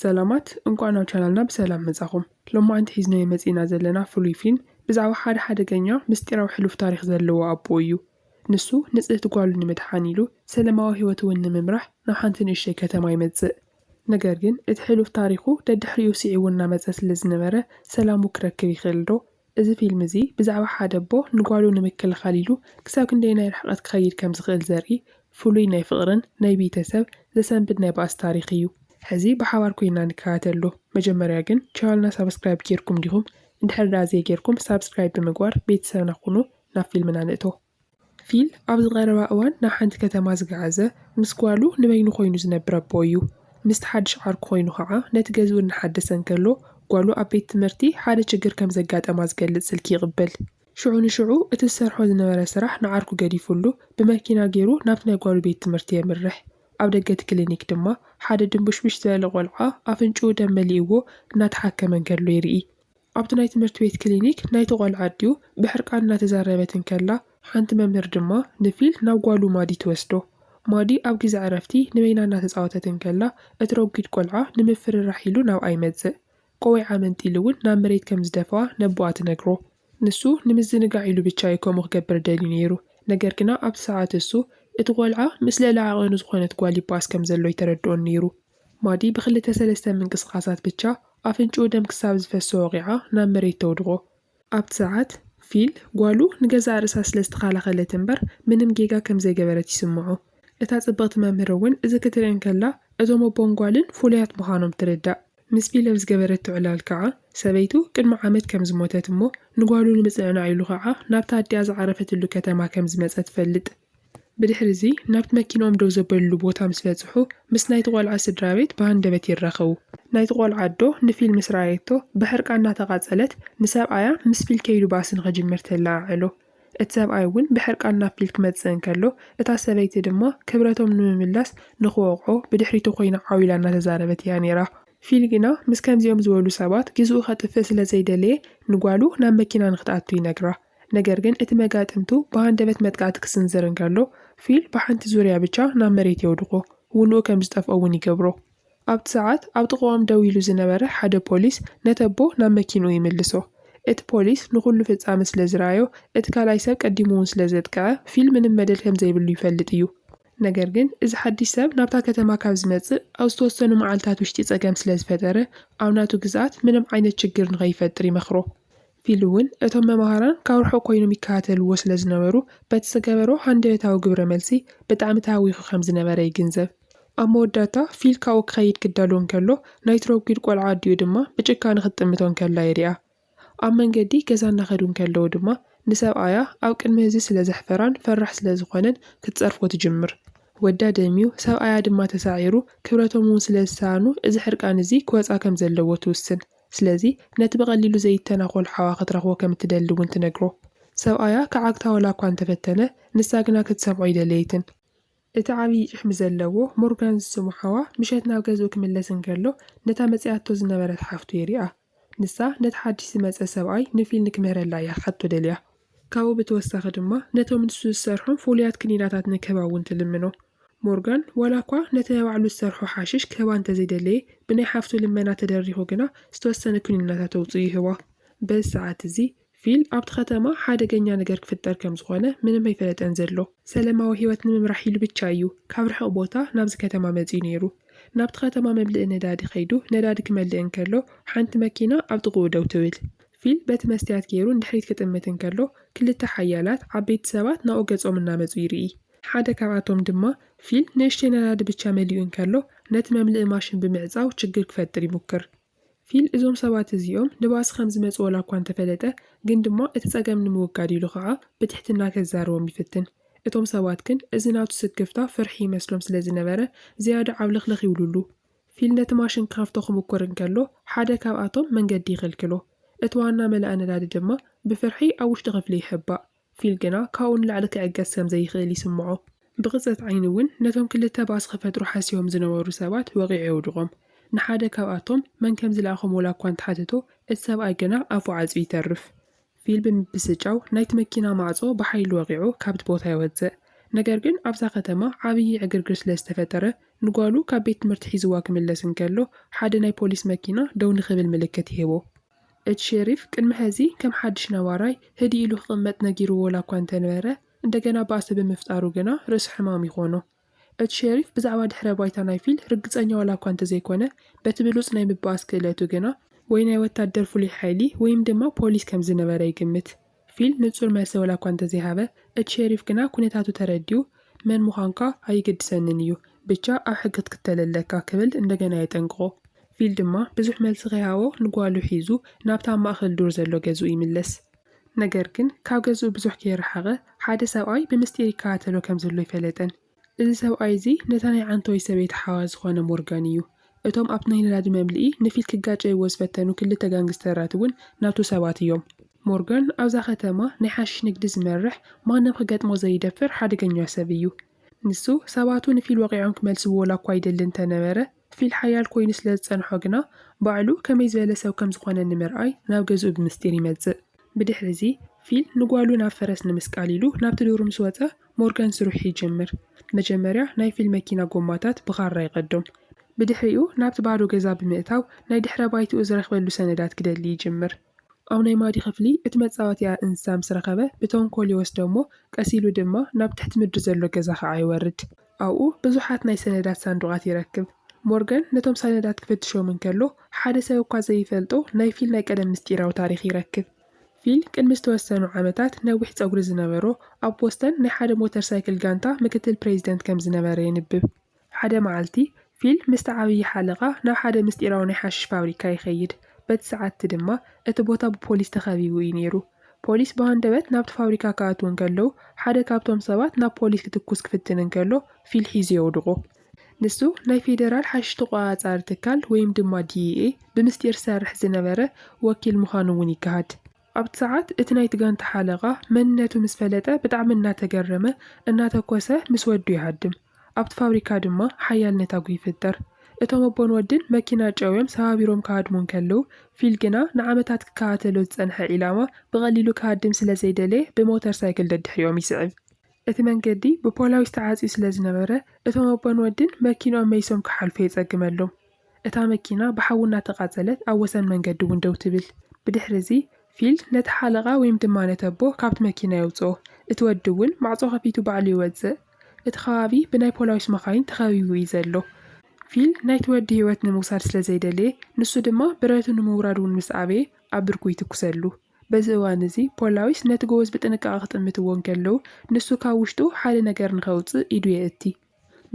ሰላማት እንቋዕ ናብ ቻናልና ብሰላም መጻኹም ሎማዓንቲ ሒዝናዮ መጺእና ዘለና ፍሉይ ፊልም ብዛዕባ ሓደ ሓደገኛ ምስጢራዊ ሕሉፍ ታሪኽ ዘለዎ ኣቦ እዩ ንሱ ንጽህቲ ጓሉ ንምድሓን ኢሉ ሰለማዊ ሂወት እውን ንምምራሕ ናብ ሓንቲ ንእሽተይ ከተማ ይመጽእ ነገር ግን እቲ ሕሉፍ ታሪኹ ደድሕሪኡ ሲዒቡ እናመጸ ስለዝነበረ ሰላሙ ክረክብ ይኽእልዶ እዚ ፊልም እዚ ብዛዕባ ሓደ ኣቦ ንጓሉ ንምክልኻል ኢሉ ክሳብ ክንደየናይ ርሕቐት ክኸይድ ከም ዝኽእል ዘርኢ ፍሉይ ናይ ፍቕርን ናይ ቢተሰብ ዘሰንብድ ናይ ባእሲ ታሪኽ እዩ። ሕዚ ብሓባር ኮይና ንከታተሎ። መጀመርያ ግን ቻናልና ሳብስክራይብ ጌርኩም ዲኹም? እንድሕሪ ድኣ ዘይጌርኩም ሳብስክራይብ ብምግባር ቤተሰብና ኩኑ ናብ ፊልምና ንእቶ። ፊል ኣብዚ ቀረባ እዋን ናብ ሓንቲ ከተማ ዝገዓዘ ምስ ጓሉ ንበይኑ ኮይኑ ዝነብር ኣቦ እዩ። ምስቲ ሓድሽ ዓርኩ ኮይኑ ከኣ ነቲ ገዝኡ እናሓደሰ እንከሎ ጓሉ ኣብ ቤት ትምህርቲ ሓደ ችግር ከም ዘጋጠማ ዝገልጽ ስልኪ ይቕበል። ሽዑ ንሽዑ እቲ ዝሰርሖ ዝነበረ ስራሕ ንዓርኩ ገዲፉሉ ብመኪና ገይሩ ናብቲ ናይ ጓሉ ቤት ትምህርቲ የምርሕ። ኣብ ደገ እቲ ክሊኒክ ድማ ሓደ ድንቡሽቡሽ ዝበለ ቆልዓ ኣፍንጭኡ ደም መሊእዎ እናተሓከመ እንከሎ ይርኢ። ኣብቲ ናይ ትምህርቲ ቤት ክሊኒክ ናይቲ ቆልዓ ኣዲኡ ብሕርቃን እናተዛረበት እንከላ፣ ሓንቲ መምህር ድማ ንፊል ናብ ጓሉ ማዲ ትወስዶ። ማዲ ኣብ ግዜ ዕረፍቲ ንበይና እናተጻወተት እንከላ፣ እቲ ረጒድ ቆልዓ ንምፍርራሕ ኢሉ ናብኣ ይመጽእ። ቆዊዓ መንጢሉ እውን ናብ መሬት ከም ዝደፍኣ ነቦኣ ትነግሮ። ንሱ ንምዝንጋዕ ኢሉ ብቻ እዩ ከምኡ ክገብር ደልዩ ነይሩ። ነገር ግና ኣብቲ ሰዓት እሱ፣ እቲ ቆልዓ ምስ ልዕሊ ዓቐኑ ዝኾነት ጓል ይበኣስ ከም ዘሎ ኣይተረድኦን ነይሩ። ማዲ ብክልተ ሰለስተ ምንቅስቓሳት ብቻ ኣፍንጭኡ ደም ክሳብ ዝፈሶ ወቒዓ ናብ መሬት ተውድቖ። ኣብቲ ሰዓት፣ ፊል፣ ጓሉ ንገዛእ ርእሳ ስለ ዝተኻላኸለት እምበር ምንም ጌጋ ከም ዘይገበረት ይስምዖ። እታ ጽብቕቲ መምህር እውን እዚ ክትርኢ እንከላ እቶም ኣቦን ጓልን ፍሉያት ምዃኖም ትርዳእ። ምስ ፊል ኣብ ዝገበረቶ ዕላል ከኣ፣ ሰበይቱ ቅድሚ ዓመት ከም ዝሞተት እሞ ንጓሉ ንምጽንዕናዕ ኢሉ ከኣ ናብታ ኣዲኣ ዝዓረፈትሉ ከተማ ከም ዝመጸ ትፈልጥ። ብድሕሪ'ዚ ናብቲ መኪንኦም ደው ዘበልሉ ቦታ ምስ በጽሑ፣ ምስ ናይቲ ቆልዓ ስድራቤት ብሃንደበት ይራኸቡ። ናይቲ ቆልዓ ኣዶ ንፊል ምስ ረኣየቶ ብሕርቃን እናተቓጸለት ንሰብኣያ ምስ ፊል ከይዱ ባእሲ ንኽጅምር ተለዓዕሎ። እቲ ሰብኣይ እውን ብሕርቃን ናብ ፊል ክመጽእ እንከሎ፣ እታ ሰበይቲ ድማ ክብረቶም ንምምላስ ንኽወቕዖ ብድሕሪቱ ኮይና ዓው ኢላ እናተዛረበት እያ ነይራ። ፊል ግና ምስ ከምዚኦም ዝበሉ ሰባት ግዜኡ ከጥፍእ ስለ ዘይደለየ ንጓሉ ናብ መኪና ንኽትኣቱ ይነግራ። ነገር ግን እቲ መጋጥምቱ ብሃንደበት መጥቃዕቲ ክስንዝር እንከሎ፣ ፊል ብሓንቲ ዙርያ ብቻ ናብ መሬት የውድቖ፣ ውንኡ ከም ዝጠፍኦ እውን ይገብሮ። ኣብቲ ሰዓት ኣብ ጥቓኦም ደው ኢሉ ዝነበረ ሓደ ፖሊስ ነተቦ ናብ መኪንኡ ይምልሶ። እቲ ፖሊስ ንኹሉ ፍጻመ ስለ ዝረኣዮ፣ እቲ ካልኣይ ሰብ ቀዲሙ እውን ስለ ዘጥቅዐ፣ ፊል ምንም መደል ከም ዘይብሉ ይፈልጥ እዩ። ነገር ግን እዚ ሓድሽ ሰብ ናብታ ከተማ ካብ ዝመጽእ ኣብ ዝተወሰኑ መዓልታት ውሽጢ ጸገም ስለ ዝፈጠረ፣ ኣብ ናቱ ግዝኣት ምንም ዓይነት ሽግር ንኸይፈጥር ይመኽሮ። ፊሊ እውን እቶም መማህራን ካብ ርሑቕ ኮይኖም ይከታተልዎ ስለ ዝነበሩ በቲ ዝገበሮ ሃንደበታዊ ግብረ መልሲ ብጣዕሚ ተሃዊኹ ከም ዝነበረ ይግንዘብ። ኣብ መወዳእታ ፊል ካብኡ ክኸይድ ክዳሎ እንከሎ ናይ ትሮግዊድ ቆልዓ ኣዲኡ ድማ ብጭካነ ክትጥምቶ እንከላ ይሪኣ። ኣብ መንገዲ ገዛ እናኸዱ እንከለዉ ድማ ንሰብኣያ ኣብ ቅድሚ ህዝቢ ስለ ዘሕፈራን ፈራሕ ስለ ዝኾነን ክትጸርፎ ትጅምር። ወዳ ደምዩ፣ ሰብኣያ ድማ ተሳዒሩ ክብረቶም እውን ስለ ዝሰኣኑ እዚ ሕርቃን እዚ ክወጽኣ ከም ዘለዎ ትውስን። ስለዚ ነቲ ብቐሊሉ ዘይተናኾል ሓዋ ክትረኽቦ ከም እትደሊ እውን ትነግሮ። ሰብኣያ ክዓግታ ዋላ እኳ እንተ ፈተነ፣ ንሳ ግና ክትሰምዖ ኣይደለየትን። እቲ ዓብዪ ጭሕሚ ዘለዎ ሞርጋን ዝስሙ ሓዋ ምሸት ናብ ገዝኡ ክምለስ እንከሎ ነታ መጺኣቶ ዝነበረት ሓፍቱ የሪኣ። ንሳ ነቲ ሓድሽ ዝመጸ ሰብኣይ ንፊል ንክምህረላ እያ ክትሓቶ ደልያ። ካብኡ ብተወሳኺ ድማ ነቶም ንሱ ዝሰርሖም ፍሉያት ክኒናታት ንክህባ እውን ትልምኖ። ሞርጋን ዋላኳ ነቲ ናይ ባዕሉ ዝሰርሖ ሓሽሽ ክህባ እንተዘይደለየ፣ ብናይ ሓፍቱ ልመና ተደሪኹ ግና ዝተወሰነ ክኒናታት ኣውጺኡ ይህባ። በዚ ሰዓት እዚ ፊል ኣብቲ ከተማ ሓደገኛ ነገር ክፍጠር ከም ዝኾነ ምንም ኣይፈለጠን ዘሎ። ሰለማዊ ህይወት ንምምራሕ ኢሉ ብቻ እዩ ካብ ርሕቕ ቦታ ናብዚ ከተማ መጺኡ ነይሩ። ናብቲ ከተማ መምልኢ ነዳዲ ከይዱ ነዳዲ ክመልእ እንከሎ ሓንቲ መኪና ኣብ ጥቕኡ ደው ትብል። ፊል በቲ መስትያት ገይሩ ንድሕሪት ክጥምት እንከሎ፣ ክልተ ሓያላት ዓበይቲ ሰባት ናብኡ ገጾም እናመጹ ይርኢ። ሓደ ካብኣቶም ድማ፣ ፊል ንእሽተይ ነዳዲ ብቻ መሊኡ እንከሎ፣ ነቲ መምልኢ ማሽን ብምዕጻው ችግር ክፈጥር ይሙክር። ፊል እዞም ሰባት እዚኦም ንባእሲ ከም ዝመጹ ወላኳ እንተፈለጠ፣ ግን ድማ እቲ ጸገም ንምውጋድ ኢሉ ከኣ ብትሕትና ከዛርቦም ይፍትን። እቶም ሰባት ግን እዚ ናቱ ስክፍታ ፍርሒ ይመስሎም ስለ ዝነበረ ዝያዳ ዓብለኽለኽ ይብሉሉ። ፊል ነቲ ማሽን ክኸፍቶ ክምኩር እንከሎ ሓደ ካብኣቶም መንገዲ ይኽልክሎ። እቲ ዋና መላኢ ነዳዲ ድማ ብፍርሒ ኣብ ውሽጢ ክፍሊ ይሕባእ። ፊል ግና ካብኡ ንላዕሊ ክዕገስ ከም ዘይኽእል ይስምዖ። ብቕጽበት ዓይኒ እውን ነቶም ክልተ ባእሲ ክፈጥሩ ሓሲቦም ዝነበሩ ሰባት ወቒዑ የውድቖም። ንሓደ ካብኣቶም መን ከም ዝለኣኾም ዋላ እኳ እንተሓተቶ እቲ ሰብኣይ ግና ኣፉ ዓጽዩ ይተርፍ። ፊል ብምብስጫው ናይቲ መኪና ማዕጾ ብሓይሊ ወቒዑ ካብቲ ቦታ ይወጽእ። ነገር ግን ኣብታ ከተማ ዓብዪ ዕግርግር ስለ ዝተፈጠረ፣ ንጓሉ ካብ ቤት ትምህርቲ ሒዝዋ ክምለስ እንከሎ ሓደ ናይ ፖሊስ መኪና ደው ንኽብል ምልክት ይህቦ። እቲ ሸሪፍ ቅድሚ ሕዚ ከም ሓድሽ ነባራይ ህድእ ኢሉ ክቕመጥ ነጊርዎ ዋላ'ኳ እንተነበረ፣ እንደገና ባእሲ ብምፍጣሩ ግና ርእሰ ሕማም ይዀኖ። እቲ ሸሪፍ ብዛዕባ ድሕረ ባይታ ናይ ፊል ርግጸኛ ዋላ እኳ እንተዘይኮነ፣ በቲ ብሉጽ ናይ ምብኣስ ክእለቱ ግና፣ ወይ ናይ ወታደር ፍሉይ ሓይሊ ወይም ድማ ፖሊስ ከም ዝነበረ ይግምት። ፊል ንጹር መልሲ ዋላ እኳ እንተዘይሃበ፣ እቲ ሸሪፍ ግና ኵነታቱ ተረዲኡ፣ መን ምዃንካ ኣይግድሰንን እዩ፣ ብቻ ኣብ ሕጊ ክትክተል ኣለካ ክብል እንደገና የጠንቅቖ። ፊል ድማ ብዙሕ መልሲ ከይሃቦ ንጓሉ ሒዙ ናብቲ ኣብ ማእከል ዱር ዘሎ ገዝኡ ይምለስ። ነገር ግን ካብ ገዝኡ ብዙሕ ከይረሓቐ ሓደ ሰብኣይ ብምስጢር ይከታተሎ ከም ዘሎ ኣይፈለጠን። እዚ ሰብኣይ እዚ ነታ ናይ ዓንተቦይ ሰበይቲ ሓዋ ዝኾነ ሞርጋን እዩ። እቶም ኣብቲ ናይ ነዳዲ መምልኢ ንፊት ክጋጨይዎ ዝፈተኑ ክልተ ጋንግስተራት እውን ናቱ ሰባት እዮም። ሞርጋን ኣብዛ ከተማ ናይ ሓሽሽ ንግዲ ዝመርሕ ማንም ክገጥሞ ዘይደፍር ሓደገኛ ሰብ እዩ። ንሱ ሰባቱ ንፊል ወቒዖም ክመልስዎ ዋላኳ ይደሊ እንተነበረ፣ ክፍሊል ሓያል ኮይኑ ስለ ዝጸንሖ ግና፣ ባዕሉ ከመይ ዝበለ ሰብ ከም ዝዀነ ንምርኣይ ናብ ገዝኡ ብምስጢር ይመጽእ። ብድሕሪ'ዚ፣ ፊል ንጓሉ ናብ ፈረስ ንምስቃል ኢሉ ናብቲ ዱር ምስ ወጸ፣ ሞርጋን ስርሑ ይጅምር። መጀመርያ ናይ ፊል መኪና ጎማታት ብኻራ ይቐዶም። ብድሕሪኡ ናብቲ ባዶ ገዛ ብምእታው ናይ ድሕረ ባይትኡ ዝረኽበሉ ሰነዳት ክደሊ ይጅምር። ኣብ ናይ ማዲ ክፍሊ እቲ መጻወትያ እንስሳ ምስ ረኸበ ብተንኮል ይወስዶ እሞ ቀስ ኢሉ ድማ ናብ ትሕቲ ምድሪ ዘሎ ገዛ ኸኣ ይወርድ። ኣብኡ ብዙሓት ናይ ሰነዳት ሳንዱቓት ይረክብ። ሞርጋን ነቶም ሰነዳት ክፍትሾም እንከሎ ሓደ ሰብ እኳ ዘይፈልጦ ናይ ፊል ናይ ቀደም ምስጢራዊ ታሪኽ ይረክብ። ፊል ቅድሚ ዝተወሰኑ ዓመታት ነዊሕ ጸጉሪ ዝነበሮ ኣብ ቦስተን ናይ ሓደ ሞተር ሳይክል ጋንታ ምክትል ፕሬዚደንት ከም ዝነበረ የንብብ። ሓደ መዓልቲ፣ ፊል ምስቲ ዓብዪ ሓለቓ ናብ ሓደ ምስጢራዊ ናይ ሓሽሽ ፋብሪካ ይኸይድ። በቲ ሰዓት'ቲ ድማ እቲ ቦታ ብፖሊስ ተኸቢቡ እዩ ነይሩ። ፖሊስ ብሃንደበት ናብቲ ፋብሪካ ክኣትዉ እንከለዉ፣ ሓደ ካብቶም ሰባት ናብ ፖሊስ ክትኩስ ክፍትን እንከሎ ፊል ሒዙ የውድቖ። ንሱ ናይ ፌደራል ሓሽሽ ተቖጻጻሪ ትካል ወይም ድማ DEA ብምስጢር ዝሰርሕ ዝነበረ ወኪል ምዃኑ እውን ይገሃድ። ኣብቲ ሰዓት እቲ ናይቲ ጋንታ ሓለቓ መንነቱ ምስ ፈለጠ ብጣዕሚ እናተገረመ እናተኮሰ ምስ ወዱ ይሃድም። ኣብቲ ፋብሪካ ድማ ሓያል ነታጒ ይፍጠር። እቶም ኣቦን ወድን መኪና ጨውዮም ሰባቢሮም ክሃድሙ እንከለዉ ፊል ግና ንዓመታት ክከታተሎ ዝጸንሐ ዒላማ ብቐሊሉ ክሃድም ስለ ዘይደለየ ብሞተር ሳይክል ደድሕሪኦም ይስዕብ። እቲ መንገዲ ብፖላዊስ ተዓጽዩ ስለ ዝነበረ እቶም ኣቦን ወድን መኪንኦም መይሶም ክሓልፉ የጸግመሎም። እታ መኪና ብሓዊ እናተቓጸለት ኣብ ወሰን መንገዲ እውን ደው ትብል። ብድሕሪ እዚ፣ ፊል ነቲ ሓለቓ ወይም ድማ ነቲ ኣቦ ካብቲ መኪና የውጽኦ። እቲ ወዲ እውን ማዕጾ ከፊቱ ባዕሉ ይወጽእ። እቲ ከባቢ ብናይ ፖላዊስ መኻይን ተኸቢቡ እዩ ዘሎ። ፊል ናይቲ ወዲ ህይወት ንምውሳድ ስለ ዘይደለየ፣ ንሱ ድማ ብረቱ ንምውራድ እውን ምስ ኣበየ፣ ኣብ ብርኩ ይትኩሰሉ። በዚ እዋን እዚ፣ ፖላዊስ ነቲ ጎበዝ ብጥንቃቐ ክጥምትዎ እንከለዉ፣ ንሱ ካብ ውሽጡ ሓደ ነገር ንኸውጽእ ኢዱ የእቲ።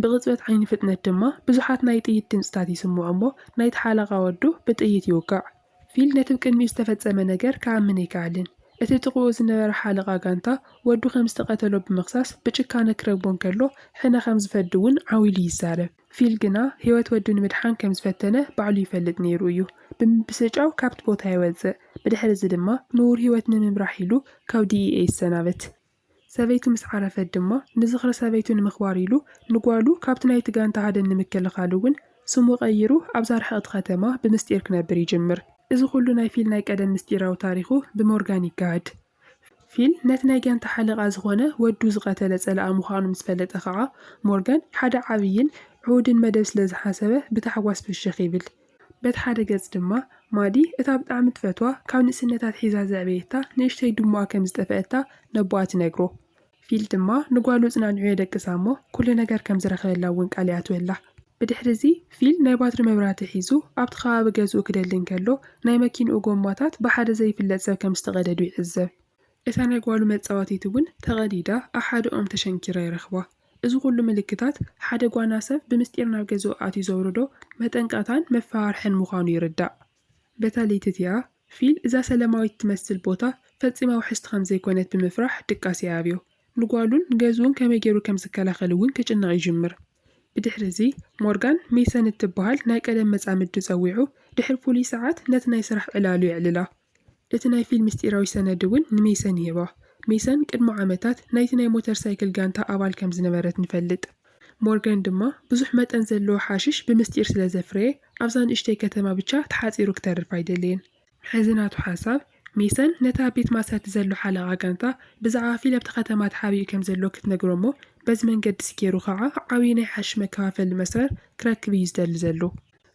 ብቕጽበት ዓይኒ ፍጥነት ድማ ብዙሓት ናይ ጥይት ድምጽታት ይስምዑ እሞ ናይቲ ሓለቓ ወዱ ብጥይት ይውጋዕ። ፊል ነቲ ብ ቅድሚኡ ዝተፈጸመ ነገር ክኣምን ኣይከኣለን። እቲ ጥቕኡ ዝነበረ ሓለቓ ጋንታ ወዱ ከም ዝተቐተሎ ብምኽሳስ ብጭካነ ክረግቦ እንከሎ ሕነ ከም ዝፈዲ እውን ዓው ኢሉ ይዛረብ። ፊል ግና ህይወት ወዱ ንምድሓን ከም ዝፈተነ ባዕሉ ይፈልጥ ነይሩ እዩ። ብምብስጫው ካብቲ ቦታ ይወጽእ፣ ብድሕሪ እዚ ድማ ንቡር ህይወት ንምምራሕ ኢሉ ካብ DEA ይሰናበት። ሰበይቱ ምስ ዓረፈት ድማ ንዝኽሪ ሰበይቱ ንምኽባር ኢሉ ንጓሉ ካብቲ ናይቲ ጋንታ ሃደን ንምክልኻል እውን ስሙ ቀይሩ ኣብዛ ርሕቕቲ ከተማ ብምስጢር ክነብር ይጅምር። እዚ ኩሉ ናይ ፊል ናይ ቀደም ምስጢራዊ ታሪኹ ብሞርጋን ይጋሃድ። ፊል ነቲ ናይ ጋንታ ሓለቓ ዝኾነ ወዱ ዝቐተለ ጸላኢ ምዃኑ ምስ ፈለጠ ከኣ ሞርጋን ሓደ ዓብይን ዕዉድን መደብ ስለ ዝሓሰበ ብታሕጓስ ፍሽኽ ይብል። በቲ ሓደ ገጽ ድማ፣ ማዲ እታ ብጣዕሚ ትፈትዋ ካብ ንእስነታ ኣትሒዛ ዘዕበየታ ንእሽተይ ድሙኣ ከም ዝጠፈኣታ ነቦኣ ትነግሮ። ፊል ድማ ንጓሉ እጽናንዑ የደቅሳ እሞ ኩሉ ነገር ከም ዝረኽበላ እውን ቃል ይኣትወላ። ብድሕሪ'ዚ ፊል ናይ ባትሪ መብራህቲ ሒዙ ኣብቲ ከባቢ ገዝኡ ክደሊ እንከሎ ናይ መኪንኡ ጎማታት ብሓደ ዘይፍለጥ ሰብ ከም ዝተቐደዱ ይዕዘብ። እታ ናይ ጓሉ መጻወቲት እውን ተቐዲዳ ኣብ ሓደ ኦም ተሸንኪራ ይረኽባ። እዚ ኹሉ ምልክታት ሓደ ጓና ሰብ ብምስጢር ናብ ገዝኡ ኣትዩ ዘውርዶ መጠንቀቕታን መፈራርሕን ምዃኑ ይርዳእ። በታ ለይቲ'ቲኣ፣ ፊል እዛ ሰለማዊት እትመስል ቦታ ፈጺማ ውሕስቲ ከም ዘይኮነት ብምፍራሕ ድቃስ የኣብዮ። ንጓሉን ንገዝኡን ከመይ ገይሩ ከም ዝከላኸል እውን ክጭነቕ ይጅምር። ብድሕሪ'ዚ፣ ሞርጋን፣ ሜሰን እትበሃል ናይ ቀደም መጻምዱ ጸዊዑ ድሕሪ ፍሉይ ሰዓት ነቲ ናይ ስራሕ ዕላሉ የዕልላ። እቲ ናይ ፊል ምስጢራዊ ሰነድ እውን ንሜሰን ይህባ። ሜሰን ቅድሚ ዓመታት ናይቲ ናይ ሞተር ሳይክል ጋንታ ኣባል ከም ዝነበረት ንፈልጥ። ሞርገን ድማ ብዙሕ መጠን ዘለዎ ሓሽሽ ብምስጢር ስለ ዘፍረየ ኣብዛ ንእሽተይ ከተማ ብቻ ተሓጺሩ ክተርፍ ኣይደለየን። ሕዚ ናቱ ሓሳብ፣ ሜሰን ነቲ ኣብ ቤት ማእሰርቲ ዘሎ ሓለቓ ጋንታ ብዛዕባ ፊል ኣብቲ ከተማ ተሓቢኡ ከም ዘሎ ክትነግሮ እሞ በዚ መንገዲ እዚ ገይሩ ኸኣ ዓብዪ ናይ ሓሽሽ መከፋፈሊ መስመር ክረክብ እዩ ዝደሊ ዘሎ።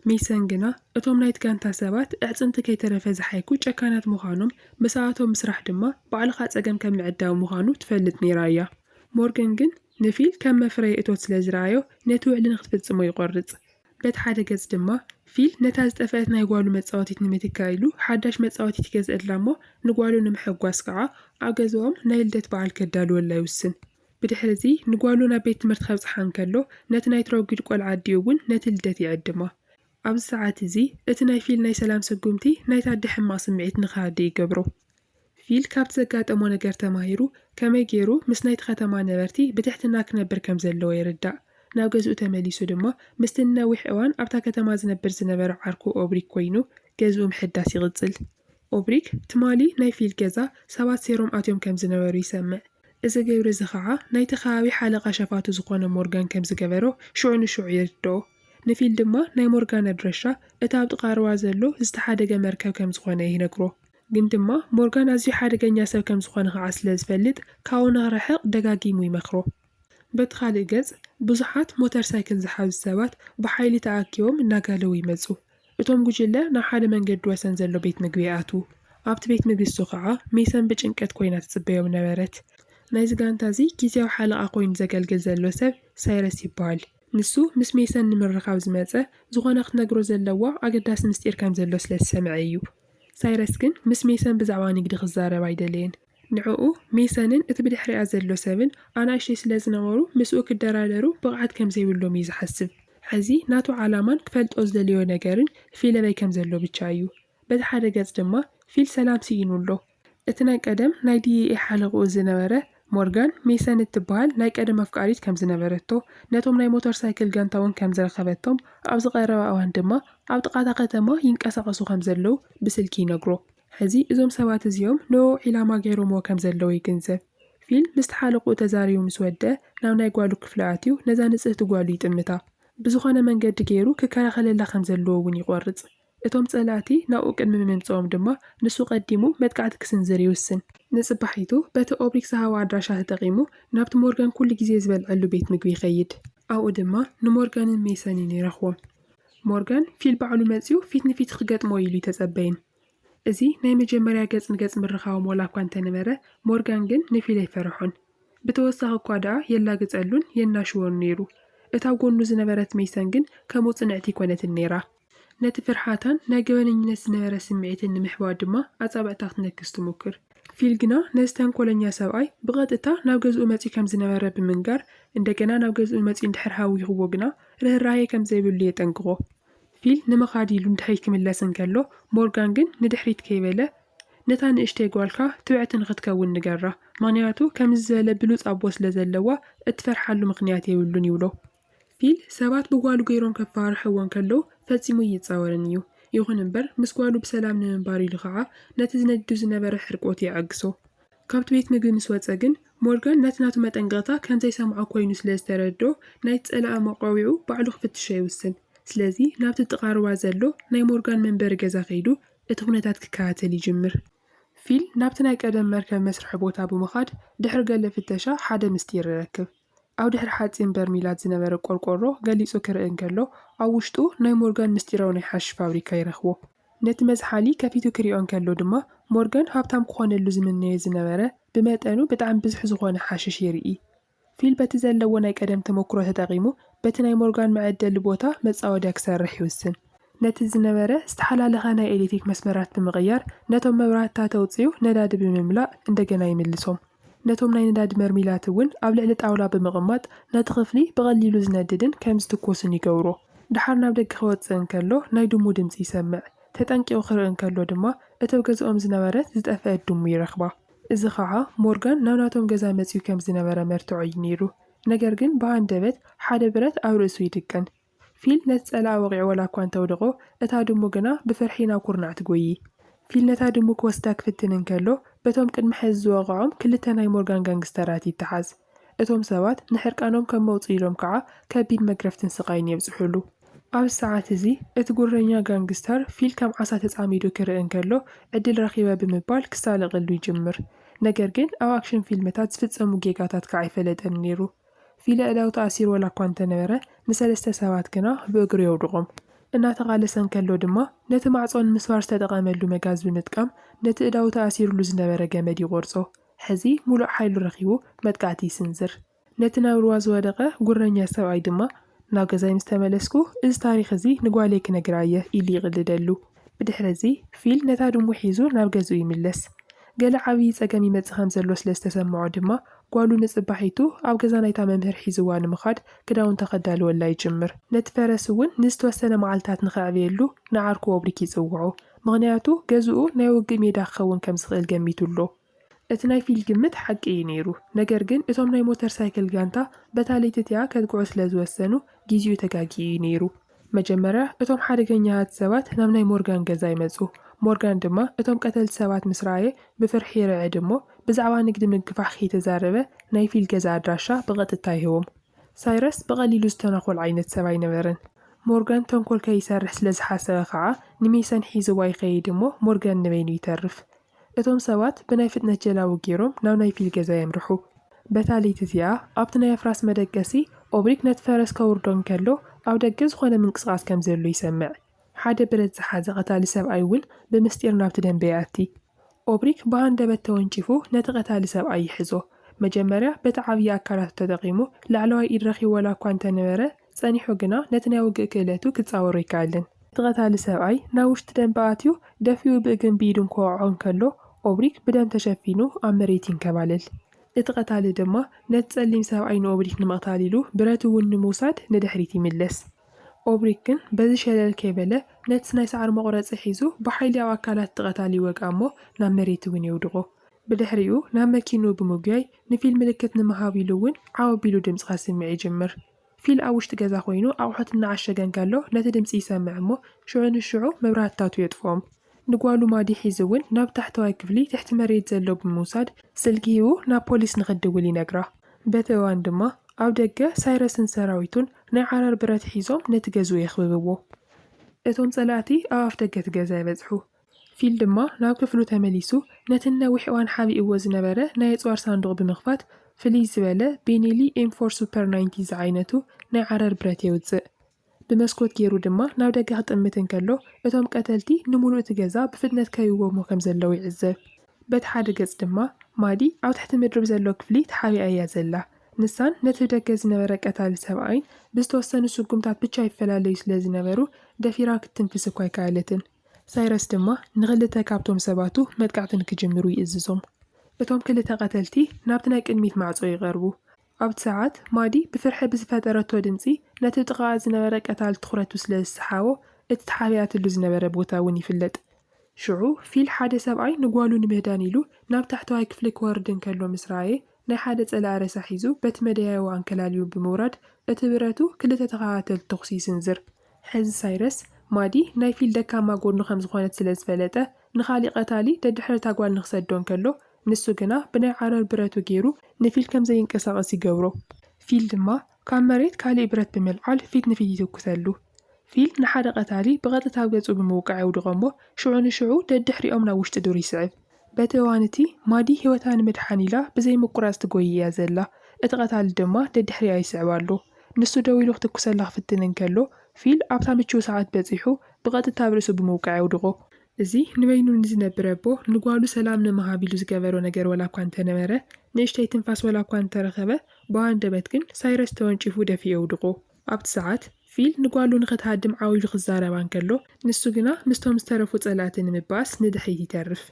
ሜሰን ግና እቶም ናይቲ ጋንታ ሰባት ኣዕጽምቲ ከይተረፈ ዝሓይኩ ጨካናት ምዃኖም፣ ምስኣቶም ምስራሕ ድማ ባዕልኻ ጸገም ከም ምዕዳው ምዃኑ ትፈልጥ ነይራ እያ። ሞርገን ግን ንፊል ከም መፍረዪ እቶት ስለ ዝረኣዮ ነቲ ውዕሊ ንኽትፍጽሞ ይቖርጽ። በቲ ሓደ ገጽ ድማ ፊል ነታ ዝጠፍአት ናይ ጓሉ መጻወቲት ንምትካእ ኢሉ ሓዳሽ መጻወቲት ይገዝእላ እሞ ንጓሉ ንምሕጓስ ከኣ ኣብ ገዛኦም ናይ ልደት በዓል ከዳልወላ ይውስን። ብድሕርዚ ንጓሉ ናብ ቤት ትምህርቲ ከብጽሓ እንከሎ፣ ነቲ ናይ ትሮጊድ ቆልዓ ኣዲኡ እውን ነቲ ልደት ይዕድማ። ኣብዚ ሰዓት እዚ፣ እቲ ናይ ፊል ናይ ሰላም ስጉምቲ ናይቲ ኣደ ሕማቕ ስምዒት ንኽሃድእ ይገብሮ። ፊል ካብቲ ዘጋጠሞ ነገር ተማሂሩ፣ ከመይ ገይሩ ምስ ናይቲ ከተማ ነበርቲ ብትሕትና ክነብር ከም ዘለዎ ይርዳእ። ናብ ገዝኡ ተመሊሱ ድማ ምስቲ ንነዊሕ እዋን ኣብታ ከተማ ዝነብር ዝነበረ ዓርኩ ኦብሪ ኰይኑ ገዝኡ ምሕዳስ ይቕጽል። ኦብሪክ፣ ትማሊ ናይ ፊል ገዛ ሰባት ሴሮም ኣትዮም ከም ዝነበሩ ይሰምዕ። እዚ ግብሪ እዚ ኸኣ ናይቲ ከባቢ ሓለቓ ሸፋቱ ዝዀነ ሞርጋን ከም ዝገበሮ ሽዑ ንሽዑ ይርድኦ። ንፊል ድማ ናይ ሞርጋን ኣድራሻ እቲ ኣብ ጥቓ ሩባ ዘሎ ዝተሓደገ መርከብ ከም ዝዀነ ይነግሮ። ግን ድማ ሞርጋን ኣዝዩ ሓደገኛ ሰብ ከም ዝዀነ ኸኣ ስለ ዝፈልጥ ካብኡ ንኽርሕቕ ደጋጊሙ ይመኽሮ። በቲ ኻልእ ገጽ፣ ብዙሓት ሞተር ሳይክል ዝሓዙ ሰባት ብሓይሊ ተኣኪቦም እናጋለቡ ይመጹ። እቶም ጉጅለ ናብ ሓደ መንገዲ ወሰን ዘሎ ቤት ምግቢ ይኣትዉ። ኣብቲ ቤት ምግቢ እሱ ኸኣ ሜሰን ብጭንቀት ኰይና ትጽበዮም ነበረት። ናይዚ ጋንታ እዚ ግዝያዊ ሓለቓ ኰይኑ ዘገልግል ዘሎ ሰብ ሳይረስ ይበሃል። ንሱ ምስ ሜሰን ንምርኻብ ዝመጸ፣ ዝዀነ ክትነግሮ ዘለዋ ኣገዳሲ ምስጢር ከም ዘሎ ስለ ዝሰምዐ ኢዩ። ሳይረስ ግን ምስ ሜሰን ብዛዕባ ንግዲ ክዛረብ ኣይደለየን። ንዕኡ፣ ሜሰንን እቲ ብድሕሪኣ ዘሎ ሰብን ኣናእሽተይ ስለ ዝነበሩ ምስኡ ክደራደሩ ብቕዓት ከም ዘይብሎም እዩ ዝሓስብ። ሕዚ ናቱ ዓላማን ክፈልጦ ዝደለዮ ነገርን ፊለበይ ከም ዘሎ ብቻ እዩ። በቲ ሓደ ገጽ ድማ ፊል ሰላም ስኢኑ ኣሎ። እቲ ናይ ቀደም ናይ ዲኢኤ ሓለቕኡ ዝነበረ ሞርጋን፣ ሜሰን እትበሃል ናይ ቀደም ኣፍቃሪት ከም ዝነበረቶ፣ ነቶም ናይ ሞተር ሳይክል ጋንታ እውን ከም ዝረኸበቶም፣ ኣብዚ ቀረባ እዋን ድማ ኣብ ጥቓ እታ ከተማ ይንቀሳቐሱ ከም ዘለዉ ብስልኪ ይነግሮ። ሕዚ እዞም ሰባት እዚኦም ንእኡ ዒላማ ገይሮምዎ ከም ዘለዉ ይግንዘብ። ፊል ምስቲ ሓለቕኡ ተዛሪቡ ምስ ወድአ ናብ ናይ ጓሉ ክፍሊ ኣትዩ ነዛ ንጽህቲ ጓሉ ይጥምታ። ብዝኾነ መንገዲ ገይሩ ክከላኸለላ ከም ዘለዎ እውን ይቖርጽ። እቶም ጸላእቲ ናብኡ ቅድሚ ምምጽኦም ድማ ንሱ ቀዲሙ መጥቃዕቲ ክስንዝር ይውስን። ንጽባሒቱ በቲ ኦብሪክ ዝሃቦ ኣድራሻ ተጠቒሙ ናብቲ ሞርጋን ኩሉ ግዜ ዝበልዐሉ ቤት ምግቢ ይኸይድ። ኣብኡ ድማ ንሞርጋንን ሜሰንን ይረኽቦም። ሞርጋን ፊል ባዕሉ መጺኡ ፊት ንፊት ክገጥሞ ኢሉ ኣይተጸበየን። እዚ ናይ መጀመርያ ገጽ ንገጽ ምርኻቦም ዋላኳ እንተነበረ፣ ሞርጋን ግን ንፊል ኣይፈረሖን። ብተወሳኺ'ኳ ደኣ የላግጸሉን የናሽዎን ነይሩ። እታ ጎኑ ዝነበረት መይሰን ግን ከምኡ ጽንዕቲ ኣይኮነትን ነይራ። ነቲ ፍርሓታን ናይ ገበነኝነት ዝነበረ ስምዒትን ንምሕባእ ድማ ኣጻብዕታ ክትነክስ ትሙክር። ፊል ግና ነዚ ተንኮለኛ ሰብኣይ ብቐጥታ ናብ ገዝኡ መጺኡ ከም ዝነበረ ብምንጋር፣ እንደገና ናብ ገዝኡ መጺኡ እንድሕር ሃዊኹዎ ግና ርህራሄ ከም ዘይብሉ የጠንቅቖ። ፊል ንምኻድ ኢሉ ንድሕሪት ክምለስ እንከሎ፣ ሞርጋን ግን ንድሕሪት ከይበለ፣ ነታ ንእሽተይ ጓልካ ትብዕቲ ንኽትከውን ንገራ፣ ምኽንያቱ ከምዚ ዝበለ ብሉጽ ኣቦ ስለ ዘለዋ እትፈርሓሉ ምኽንያት የብሉን ይብሎ። ፊል ሰባት ብጓሉ ገይሮም ከፈራርሕዎ እንከለዉ ፈጺሙ ኣይጻወርን እዩ፣ ይኹን እምበር ምስ ጓሉ ብሰላም ንምንባር ኢሉ ኸኣ ነቲ ዝነድዱ ዝነበረ ሕርቆት የዐግሶ። ካብቲ ቤት ምግቢ ምስ ወጸ ግን፣ ሞርጋን ነቲ ናቱ መጠንቀቕታ ከም ዘይሰምዖ ኰይኑ ስለ ዝተረድኦ፣ ናይቲ ጸላኢ መቋዊዑ ባዕሉ ክፍትሾ ይውስን። ስለዚ፣ ናብቲ ጥቓ ሩባ ዘሎ ናይ ሞርጋን መንበሪ ገዛ ከይዱ እቲ ኵነታት ክከታተል ይጅምር። ፊል ናብቲ ናይ ቀደም መርከብ መስርሒ ቦታ ብምኻድ ድሕሪ ገለ ፍተሻ ሓደ ምስጢር ይረክብ። ኣብ ድሕሪ ሓጺን በርሚላት ዝነበረ ቆርቆሮ ገሊጹ ክርኢ እንከሎ፣ ኣብ ውሽጡ ናይ ሞርጋን ምስጢራዊ ናይ ሓሽሽ ፋብሪካ ይረኽቦ። ነቲ መዝሓሊ ከፊቱ ክሪኦ እንከሎ ድማ ሞርጋን ሃብታም ክኾነሉ ዝምነዮ ዝነበረ ብመጠኑ ብጣዕሚ ብዝሕ ዝኾነ ሓሽሽ ይርኢ። ፊል በቲ ዘለዎ ናይ ቀደም ተመኩሮ ተጠቂሙ በቲ ናይ ሞርጋን መዐደሊ ቦታ መጻወድያ ክሰርሕ ይውስን። ነቲ ዝነበረ ዝተሓላለኸ ናይ ኤሌትሪክ መስመራት ብምቕያር ነቶም መብራህትታት ኣውጺኡ ነዳዲ ብምምላእ እንደገና ይምልሶም። ነቶም ናይ ነዳዲ መርሚላት እውን ኣብ ልዕሊ ጣውላ ብምቕማጥ ነቲ ክፍሊ ብቐሊሉ ዝነድድን ከም ዝትኮስን ይገብሮ። ደሓር ናብ ደገ ክወጽእ እንከሎ ናይ ድሙ ድምጺ ይሰምዕ። ተጠንቂቑ ክርኢ እንከሎ ድማ እተብ ገዝኦም ዝነበረት ዝጠፍአት ድሙ ይረኽባ። እዚ ኸኣ ሞርጋን ናብ ናቶም ገዛ መጺኡ ከም ዝነበረ መርትዖ እዩ ነይሩ። ነገር ግን ብሃንደበት ሓደ ብረት ኣብ ርእሱ ይድቅን። ፊል ነቲ ጸላኢ ወቒዑ ዋላ'ኳ እንተ ኣውደቖ፣ እታ ድሙ ግና ብፍርሒ ናብ ኩርናዕ ትጎዪ። ፊል ነታ ድሙ ክወስዳ ክፍትን እንከሎ፣ በቶም ቅድሚ ሕዚ ዝወቕዖም ክልተ ናይ ሞርጋን ጋንግስተራት ይተሓዝ። እቶም ሰባት ንሕርቃኖም ከም መውጽኢ ኢሎም ከኣ ከቢድ መግረፍትን ስቓይን የብጽሑሉ። ኣብዚ ሰዓት እዚ እቲ ጉረኛ ጋንግስተር ፊል ከም ዓሳ ተጻሚዱ ክርኢ እንከሎ፣ ዕድል ረኺበ ብምባል ክሳለቐሉ ይጅምር። ነገር ግን ኣብ ኣክሽን ፊልምታት ዝፍጸሙ ጌጋታት ከኣ ኣይፈለጠን ነይሩ። ፊሊ ዕላዊ ተኣሲሩ ዋላኳ እንተነበረ፣ ንሰለስተ ሰባት ግና ብእግሩ የውድቖም። እናተቓለሰ እንከሎ ድማ ነቲ ማዕጾ ንምስባር ዝተጠቐመሉ መጋዝ ብምጥቃም ነቲ እዳዉ ተኣሲሩሉ ዝነበረ ገመድ ይቖርጾ። ሕዚ ሙሉእ ሓይሉ ረኺቡ መጥቃዕቲ ይስንዝር። ነቲ ናብ ሩባ ዝወደቐ ጉረኛ ሰብኣይ ድማ ናብ ገዛይ ምስ ተመለስኩ፣ እዚ ታሪኽ እዚ ንጓለይ ክነግራ እየ ኢሉ ይቕልደሉ። ብድሕሪ እዚ፣ ፊል ነታ ድሙ ሒዙ ናብ ገዝኡ ይምለስ። ገለ ዓብዪ ጸገም ይመጽእ ከም ዘሎ ስለ ዝተሰምዖ ድማ፣ ጓሉ ንጽባሒቱ ኣብ ገዛ ናይታ መምህር ሒዝዋ ንምኻድ ክዳውንታ ከዳልወላ ይጅምር። ነቲ ፈረስ እውን ንዝተወሰነ መዓልታት ንኸዕብየሉ ንዓርኩ ኦብሪክ ይጽውዖ፣ ምኽንያቱ ገዝኡ ናይ ውግእ ሜዳ ክኸውን ከም ዝኽእል ገሚቱ ኣሎ። እቲ ናይ ፊል ግምት ሓቂ እዩ ነይሩ ነገር ግን እቶም ናይ ሞተር ሳይክል ጋንታ በታ ለይቲ እቲኣ ከጥቅዑ ስለ ዝወሰኑ ጊዚኡ ተጋጊዩ እዩ ነይሩ መጀመርያ እቶም ሓደገኛታት ሰባት ናብ ናይ ሞርጋን ገዛ ይመጹ ሞርጋን ድማ እቶም ቀተልቲ ሰባት ምስ ረኣየ ብፍርሒ ይርዕድ እሞ ብዛዕባ ንግዲ ምግፋሕ ከይተዛረበ ናይ ፊል ገዛ ኣድራሻ ብቐጥታ ይህቦም ሳይረስ ብቐሊሉ ዝተናኾል ዓይነት ሰብ ኣይነበረን ሞርጋን ተንኮል ከይሰርሕ ስለ ዝሓሰበ ከኣ ንሜሰን ሒዝዋ ይኸይድ እሞ ሞርጋን ንበይኑ ይተርፍ እቶም ሰባት ብናይ ፍጥነት ጀላቡ ገይሮም ናብ ናይ ፊል ገዛ የምርሑ። በታ ለይቲ እቲኣ፣ ኣብቲ ናይ ኣፍራስ መደቀሲ፣ ኦብሪክ ነቲ ፈረስ ከውርዶ እንከሎ፣ ኣብ ደገ ዝዀነ ምንቅስቓስ ከም ዘሎ ይሰምዕ። ሓደ ብረት ዝሓዘ ቀታሊ ሰብኣይ እውን ብምስጢር ናብቲ ደምበ ይኣቲ። ኦብሪክ ብሃንደበት ተወንጪፉ ነቲ ቀታሊ ሰብኣይ ይሕዞ። መጀመርያ በቲ ዓብዪ ኣካላቱ ተጠቒሙ ላዕለዋይ ኢድ ረኺቡ ዋላ እኳ እንተ ነበረ፣ ጸኒሑ ግና ነቲ ናይ ውግእ ክእለቱ ክጻወሮ ኣይከኣለን። እቲ ቀታሊ ሰብኣይ ናብ ውሽጢ ደምበ ኣትዩ ደፊኡ ብእግርን ብኢዱን ክወቕዖ እንከሎ፣ ኦብሪክ ብደም ተሸፊኑ ኣብ መሬት ይንከባለል። እቲ ቀታሊ ድማ ነቲ ጸሊም ሰብኣይ ንኦብሪክ ንምቕታል ኢሉ ብረት እውን ንምውሳድ ንድሕሪት ይምለስ። ኦብሪክ ግን በዚ ሸለል ከይበለ ነቲ ናይ ሳዕሪ መቑረጺ ሒዙ ብሓይሊ ኣብ ኣካላት እቲ ቀታሊ ይወግኣ እሞ ናብ መሬት እውን የውድቖ። ብድሕሪኡ ናብ መኪንኡ ብምጉያይ ንፊል ምልክት ንምሃብ ኢሉ እውን ዓው ኣቢሉ ድምጺ ከስምዕ ይጅምር። ፊል ኣብ ውሽጢ ገዛ ዀይኑ ኣቑሑት እናዓሸገ እንከሎ ነቲ ድምጺ ይሰምዕ እሞ፣ ሽዑ ንሽዑ መብራህትታቱ የጥፍኦም። ንጓሉ ማዲ ሒዙ እውን ናብ ታሕተዋይ ክፍሊ ትሕቲ መሬት ዘሎ ብምውሳድ ስልኪ ሂቡ ናብ ፖሊስ ንኽትድውል ይነግራ። በቲ እዋን ድማ ኣብ ደገ ሳይረስን ሰራዊቱን ናይ ዓረር ብረት ሒዞም ነቲ ገዝኡ የኽብብዎ። እቶም ጸላእቲ ኣብ ኣፍደገ እቲ ገዛ ይበጽሑ። ፊል ድማ ናብ ክፍሉ ተመሊሱ ነቲ ንነዊሕ እዋን ሓቢእዎ ዝነበረ ናይ ኣጽዋር ሳንዱቕ ብምኽፋት ፍልይ ዝበለ ቤኔሊ ኤም ፎር ሱፐር ናይንቲ ዝዓይነቱ ናይ ዓረር ብረት የውጽእ። ብመስኮት ጌሩ ድማ ናብ ደገ ክጥምት እንከሎ እቶም ቀተልቲ ንምሉእ እቲ ገዛ ብፍጥነት ከይዎሞ ከም ዘለዉ ይዕዘብ። በቲ ሓደ ገጽ ድማ ማዲ ኣብ ትሕቲ ምድሪ ብዘሎ ክፍሊ ተሓቢኣ እያ ዘላ። ንሳን ነቲ ብደገ ዝነበረ ቀታሊ ሰብኣይን ብዝተወሰኑ ስጉምታት ብቻ ይፈላለዩ ስለ ዝነበሩ ደፊራ ክትትንፍስ እኳ ኣይከኣለትን። ሳይረስ ድማ ንኽልተ ካብቶም ሰባቱ መጥቃዕቲ ንኪጅምሩ ይእዝዞም። እቶም ክልተ ቐተልቲ ናብቲ ናይ ቅድሚት ማዕጾ ይቐርቡ። ኣብቲ ሰዓት፣ ማዲ ብፍርሒ ብዝፈጠረቶ ድምጺ ነቲ ጥቓኣ ዝነበረ ቀታሊ ትዅረቱ ስለ ዝሰሓቦ፣ እቲ ተሓቢኣትሉ ዝነበረ ቦታ እውን ይፍለጥ። ሽዑ፣ ፊል ሓደ ሰብኣይ ንጓሉ ንምህዳን ኢሉ ናብ ታሕተዋይ ክፍሊ ኪወርድ እንከሎ ምስ ረኣየ፣ ናይ ሓደ ጸላኢ ሬሳ ሒዙ በቲ መደያይቦ ኣንከላልዩ ብምውራድ፣ እቲ ብረቱ ክልተ ተኸታተልቲ ተዅሲ ይስንዝር። ሕዚ ሳይረስ፣ ማዲ ናይ ፊል ደካማ ጎድኑ ከም ዝኾነት ስለ ዝፈለጠ፣ ንኻሊእ ቀታሊ ደድሕሪ እታ ጓል ንኽሰዶ እንከሎ፣ ንሱ ግና ብናይ ዓረር ብረቱ ገይሩ ንፊል ከም ዘይንቀሳቐስ ይገብሮ። ፊል ድማ ካብ መሬት ካሊእ ብረት ብምልዓል ፊት ንፊት ይትኩሰሉ። ፊል ንሓደ ቀታሊ ብቐጥታ ኣብ ገጹ ብምውቃዕ የውድቖ እሞ ሽዑ ንሽዑ ደድሕሪኦም ናብ ውሽጢ ዱር ይስዕብ። በቲ እዋን እቲ፣ ማዲ ህይወታ ንምድሓን ኢላ ብዘይ ምቁራጽ ትጎዪ እያ ዘላ፣ እቲ ቀታሊ ድማ ደድሕሪኣ ይስዕባ ኣሎ። ንሱ ደው ኢሉ ክትኩሰላ ክፍትን እንከሎ፣ ፊል ኣብታ ምቹው ሰዓት በጺሑ ብቐጥታ ኣብ ርእሱ ብምውቃዕ የውድቖ። እዚ ንበይኑ ንዝነብር ኣቦ ንጓሉ ሰላም ንምሃብ ኢሉ ዝገበሮ ነገር ዋላ እኳ እንተነበረ፣ ንእሽተይ ትንፋስ ዋላ እኳ እንተረኸበ፣ ብኣንደበት ግን ሳይረስ ተወንጪፉ ደፊኡ የውድቖ። ኣብቲ ሰዓት፣ ፊል ንጓሉ ንኽትሃድም ዓው ኢሉ ክዛረባ እንከሎ፣ ንሱ ግና ምስቶም ዝተረፉ ጸላእቲ ንምባኣስ ንድሕሪት ይተርፍ።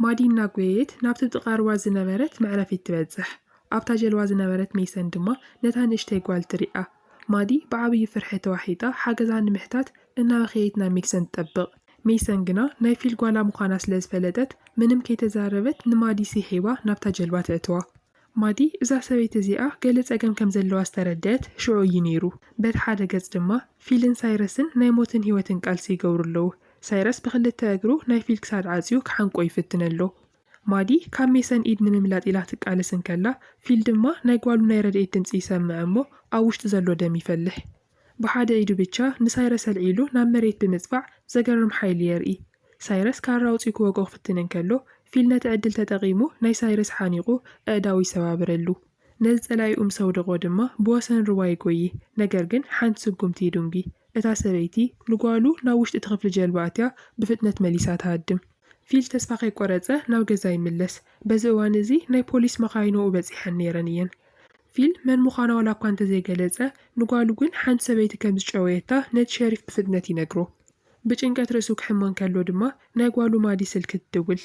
ማዲ እናጎየየት ናብቲ ጥቓ ሩባ ዝነበረት መዕረፊት ትበጽሕ። ኣብታ ጀልባ ዝነበረት ሜይሰን ድማ ነታ ንእሽተይ ጓል ትሪኣ። ማዲ ብዓብዪ ፍርሒ ተዋሒጣ ሓገዛ ንምሕታት እናበኸየት ናብ ሜይሰን ትጠብቕ። ሜይሰን ግና ናይ ፊል ጓላ ምዃና ስለ ዝፈለጠት ምንም ከይተዛረበት ንማዲ ሲሒባ ናብታ ጀልባ ተእትዋ። ማዲ እዛ ሰበይቲ እዚኣ ገለ ጸገም ከም ዘለዋ ዝተረድኣት ሽዑ እዩ ነይሩ። በቲ ሓደ ገጽ ድማ ፊልን ሳይረስን ናይ ሞትን ህይወትን ቃልሲ ይገብሩ ኣለዉ። ሳይረስ ብኽልተ እግሩ ናይ ፊል ክሳድ ዓጽዩ ክሓንቆ ይፍትን ኣሎ። ማዲ ካብ ሜሰን ኢድ ንምምላጥ ኢላ ትቃለስ እንከላ፣ ፊል ድማ ናይ ጓሉ ናይ ረድኤት ድምጺ ይሰምዕ እሞ ኣብ ውሽጡ ዘሎ ደም ይፈልሕ። ብሓደ ኢዱ ብቻ ንሳይረስ ኣልዒሉ ናብ መሬት ብምጽፋዕ ዘገርም ሓይሊ የርኢ። ሳይረስ ካራ ኣውጺኡ ክወግኦ ክፍትን እንከሎ፣ ፊል ነቲ ዕድል ተጠቒሙ ናይ ሳይረስ ሓኒቑ ኣእዳው ይሰባብረሉ። ነዚ ጸላኢኡ ምስ ኣውደቖ ድማ ብወሰን ሩባ ይጎዪ፣ ነገር ግን ሓንቲ ስጉምቲ ይዱንጊ። እታ ሰበይቲ ንጓሉ ናብ ውሽጢ እቲ ክፍሊ ጀልባ ኣእትያ ብፍጥነት መሊሳ ትሃድም። ፊል ተስፋ ከይቆረጸ ናብ ገዛ ይምለስ። በዚ እዋን እዚ ናይ ፖሊስ መኻይን ኣብኡ በጺሐን ነይረን እየን። ፊል መን ምዃና ዋላ እኳ እንተዘይገለጸ፣ ንጓሉ ግን ሓንቲ ሰበይቲ ከም ዝጨወየታ ነቲ ሸሪፍ ብፍጥነት ይነግሮ። ብጭንቀት ርእሱ ክሕመ እንከሎ ድማ ናይ ጓሉ ማዲ ስልኪ ትድውል።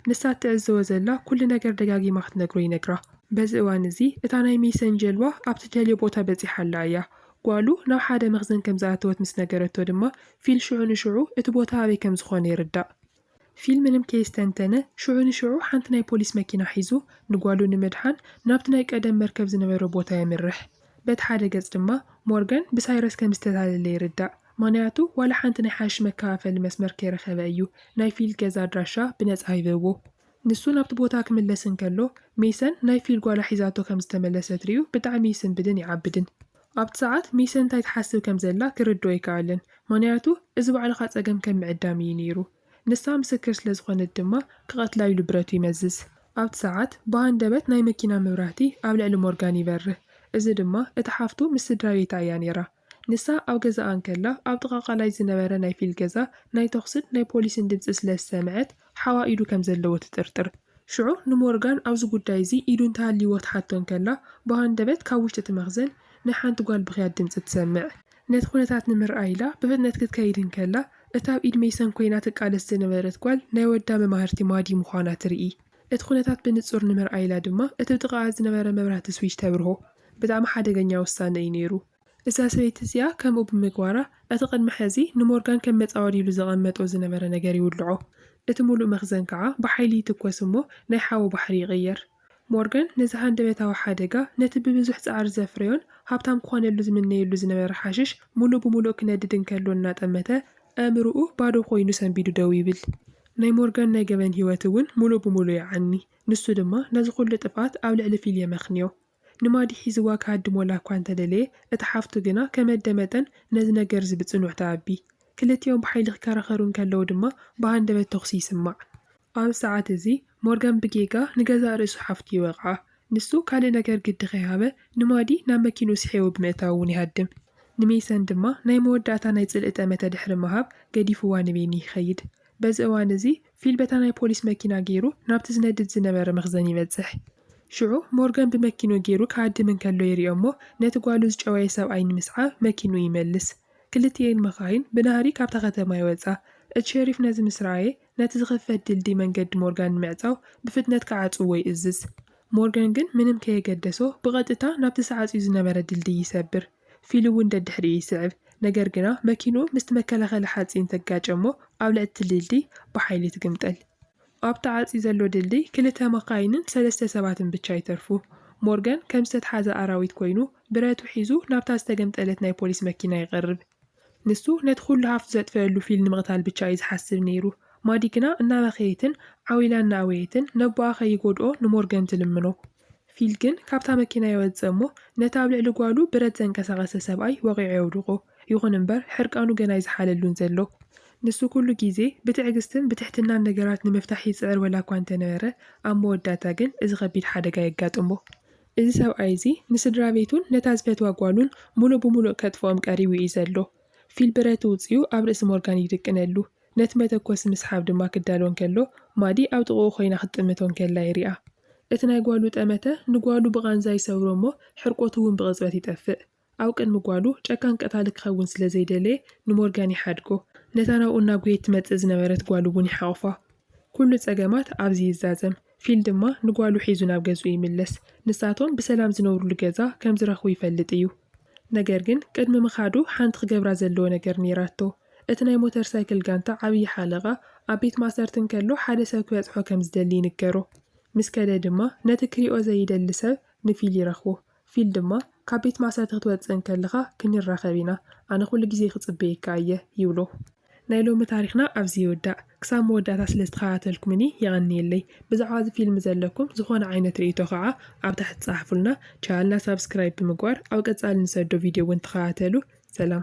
ንሳ እትዕዘቦ ዘላ ኩሉ ነገር ደጋጊማ ክትነግሮ ይነግራ። በዚ እዋን እዚ እታ ናይ ሜይሰን ጀልባ ኣብ ትደልዮ ቦታ በጺሓ ኣላ እያ። ጓሉ ናብ ሓደ መኽዘን ከም ዝኣተወት ምስ ነገረቶ ድማ ፊል ሽዑ ንሽዑ እቲ ቦታ ኣበይ ከም ዝኾነ ይርዳእ። ፊልምንም ከየስተንተነ ሽዑ ንሽዑ ሓንቲ ናይ ፖሊስ መኪና ሒዙ ንጓሉ ንምድሓን ናብቲ ናይ ቀደም መርከብ ዝነበሮ ቦታ የምርሕ። በቲ ሓደ ገጽ ድማ ሞርጋን ብሳይረስ ከም ዝተታለለ ይርዳእ፣ ምኽንያቱ ዋላ ሓንቲ ናይ ሓሽሽ መከፋፈሊ መስመር ከይረኸበ እዩ ናይ ፊል ገዛ ኣድራሻ ብነጻ ሂብዎ። ንሱ ናብቲ ቦታ ክምለስ እንከሎ ሜሰን ናይ ፊል ጓላ ሒዛቶ ከም ዝተመለሰት ሪኡ ብጣዕሚ ይስንብድን ይዓብድን። ኣብቲ ሰዓት ሚሰ እንታይ ትሓስብ ከም ዘላ ክርድኦ ኣይከኣለን፣ ምኽንያቱ እዚ ባዕልኻ ጸገም ከም ምዕዳም ኢዩ ነይሩ። ንሳ ምስክር ስለ ዝኾነት ድማ ክቐትላ ኢሉ ብረቱ ይመዝዝ። ኣብቲ ሰዓት ብሃንደበት ናይ መኪና መብራህቲ ኣብ ልዕሊ ሞርጋን ይበርህ፣ እዚ ድማ እታ ሓፍቱ ምስ ስድራቤታ ኢያ ነይራ። ንሳ ኣብ ገዛኣ እንከላ ኣብ ጥቓ ቃላይ ዝነበረ ናይ ፊል ገዛ ናይ ተኹስን ናይ ፖሊስን ድምጺ ስለ ዝሰምዐት ሓዋ ኢዱ ከም ዘለዎ ትጥርጥር። ሽዑ ንሞርጋን ኣብዚ ጉዳይ እዚ ኢዱ እንተሃልይዎ ትሓቶ እንከላ፣ ብሃንደበት ካብ ውሽጢ እቲ መኽዘን ናይ ሓንቲ ጓል ብኽያት ድምጺ ትሰምዕ። ነቲ ኩነታት ንምርኣይ ኢላ ብፍጥነት ክትከይድ እንከላ፣ እታ ኣብ ኢድ ሜይሰን ኮይና ትቃለስ ዝነበረት ጓል ናይ ወዳ መማህርቲ ማዲ ምዃና ትርኢ። እቲ ኩነታት ብንጹር ንምርኣይ ኢላ ድማ እቲ ብጥቓኣ ዝነበረ መብራህቲ ስዊች ተብርሆ። ብጣዕሚ ሓደገኛ ውሳነ እዩ ነይሩ። እዛ ሰበይቲ እዚኣ ከምኡ ብምግባራ፣ እቲ ቅድሚ ሕዚ ንሞርጋን ከም መጻወዲ ኢሉ ዘቐመጦ ዝነበረ ነገር ይውልዖ። እቲ ምሉእ መኽዘን ከኣ ብሓይሊ ይትኮስ እሞ ናይ ሓዊ ባሕሪ ይቕየር። ሞርጋን ነዚ ሃንደበታዊ ሓደጋ፣ ነቲ ብብዙሕ ጻዕሪ ዘፍረዮን ሃብታም ክኾነሉ ዝምነየሉ ዝነበረ ሓሽሽ ምሉእ ብምሉእ ክነድድ እንከሎ እናጠመተ፣ ኣእምሮኡ ባዶ ኮይኑ ሰንቢዱ ደው ይብል። ናይ ሞርጋን ናይ ገበን ህይወት እውን ምሉእ ብምሉእ ይዓኒ። ንሱ ድማ ነዚ ኩሉ ጥፍኣት ኣብ ልዕሊ ፊል የመኽንዮ። ንማዲ ሒዝዋ ክሃድሞላ እኳ እንተ ደለየ፣ እታ ሓፍቱ ግና ከመደ መጠን ነዚ ነገርዚ ብጽኑዕ ትኣቢ። ክልቲኦም ብሓይሊ ክከራኸሩ እንከለዉ ድማ ብሃንደበት ተኹሲ ይስማዕ። ኣብዚ ሰዓት እዚ ሞርጋን ብጌጋ ንገዛእ ርእሱ ሓፍቱ ይወቕዓ። ንሱ ካልእ ነገር ግዲ ከይሃበ ንማዲ ናብ መኪንኡ ስሒቡ ብምእታው እውን ይሃድም። ንሜሰን ድማ ናይ መወዳእታ ናይ ጽልኢ ጠመተ ድሕሪ ምሃብ ገዲፍዋ ንቤኒ ይኸይድ። በዚ እዋን እዚ ፊል በታ ናይ ፖሊስ መኪና ገይሩ ናብቲ ዝነድድ ዝነበረ መኽዘን ይበጽሕ። ሽዑ ሞርጋን ብመኪንኡ ገይሩ ክሃድም እንከሎ ይሪኦ'ሞ ነቲ ጓሉ ዝጨወየ ሰብኣይ ንምስዓብ መኪንኡ ይመልስ። ክልቲኤን መኻይን ብናህሪ ካብታ ከተማ ይወጻ። እቲ ሸሪፍ ነዚ ምስ ረኣየ ነቲ ዝኽፈት ድልድይ መንገዲ ሞርጋን ንምዕጻው ብፍጥነት ክዓጽውዎ ይእዝዝ። ሞርጋን ግን ምንም ከየገደሶ ብቐጥታ ናብቲ ተዓጽዩ ዝነበረ ድልድይ ይሰብር። ፊሊ እውን ደድሕሪኡ ይስዕብ። ነገር ግና መኪንኡ ምስቲ መከላኸሊ ሓፂን ተጋጨ እሞ ኣብ ልዕሊ እቲ ድልድይ ብሓይሊ ትግምጠል። ኣብ ተዓፅዩ ዘሎ ድልድይ ክልተ መካይንን ሰለስተ ሰባትን ብቻ ይተርፉ። ሞርጋን ከም ዝተትሓዘ ኣራዊት ኮይኑ ብረቱ ሒዙ ናብታ ዝተገምጠለት ናይ ፖሊስ መኪና ይቐርብ። ንሱ ነቲ ኩሉ ሃፍቱ ዘጥፈኣሉ ፊሊ ንምቕታል ብቻ እዩ ዝሓስብ ነይሩ። ማዲ ግና እናበኸየትን ዓው ኢላ እናኣወየትን ነቦኣ ከይጎድኦ ንሞርጋን ትልምኖ። ፊል ግን ካብታ መኪና ይወጽእ እሞ ነቲ ኣብ ልዕሊ ጓሉ ብረት ዘንቀሳቐሰ ሰብኣይ ወቒዑ የውድቖ። ይኹን እምበር ሕርቃኑ ገና ኣይዝሓለሉን ዘሎ። ንሱ ኩሉ ግዜ ብትዕግስትን ብትሕትናን ነገራት ንምፍታሕ ይጽዕር ወላ እኳ እንተነበረ፣ ኣብ መወዳእታ ግን እዚ ከቢድ ሓደጋ የጋጥሞ። እዚ ሰብኣይ እዚ ንስድራቤቱን ነታ ዝፈትዋ ጓሉን ምሉእ ብምሉእ ከጥፍኦም ቀሪቡ እዩ ዘሎ። ፊል ብረት እውጺኡ ኣብ ርእሲ ሞርጋን ይድቅነሉ። ነቲ መተኮሲ ምስሓብ ድማ ክዳሎ እንከሎ ማዲ ኣብ ጥቕኡ ኮይና ክትጥምቶ እንከላ ይሪኣ። እቲ ናይ ጓሉ ጠመተ ንጓሉ ብቓንዛ ይሰብሮ እሞ ሕርቆቱ እውን ብቕጽበት ይጠፍእ። ኣብ ቅድሚ ጓሉ ጨካን ቀታሊ ክኸውን ስለ ዘይደለየ ንሞርጋን ይሓድጎ። ነታ ናብኡ እናጎየት ትመጽእ ዝነበረት ጓሉ እውን ይሓቑፋ። ኩሉ ጸገማት ኣብዚ ይዛዘም። ፊል ድማ ንጓሉ ሒዙ ናብ ገዝኡ ይምለስ። ንሳቶም ብሰላም ዝነብሩሉ ገዛ ከም ዝረኽቡ ይፈልጥ እዩ። ነገር ግን ቅድሚ ምኻዱ ሓንቲ ክገብራ ዘለዎ ነገር ነይራቶ። እቲ ናይ ሞተር ሳይክል ጋንታ ዓብዪ ሓለቓ ኣብ ቤት ማእሰርቲ እንከሎ ሓደ ሰብ ክበጽሖ ከም ዝደሊ ይንገሮ። ምስ ከደ ድማ ነቲ ክሪኦ ዘይደሊ ሰብ ንፊል ይረኽቦ። ፊል ድማ ካብ ቤት ማእሰርቲ ክትወጽእ እንከለኻ ክንራኸብ ኢና፣ ኣነ ኩሉ ግዜ ክጽበየካ እየ ይብሎ። ናይ ሎሚ ታሪኽና ኣብዚ ይውዳእ ክሳብ መወዳእታ ስለ ዝተኸታተልኩምኒ የቐንየለይ ብዛዕባ እዚ ፊልም ዘለኩም ዝኾነ ዓይነት ርእይቶ ከኣ ኣብ ታሕቲ ጸሓፉልና ቻነልና ሳብስክራይብ ብምግባር ኣብ ቀጻሊ ንሰዶ ቪድዮ ውን ተኸታተሉ ሰላም።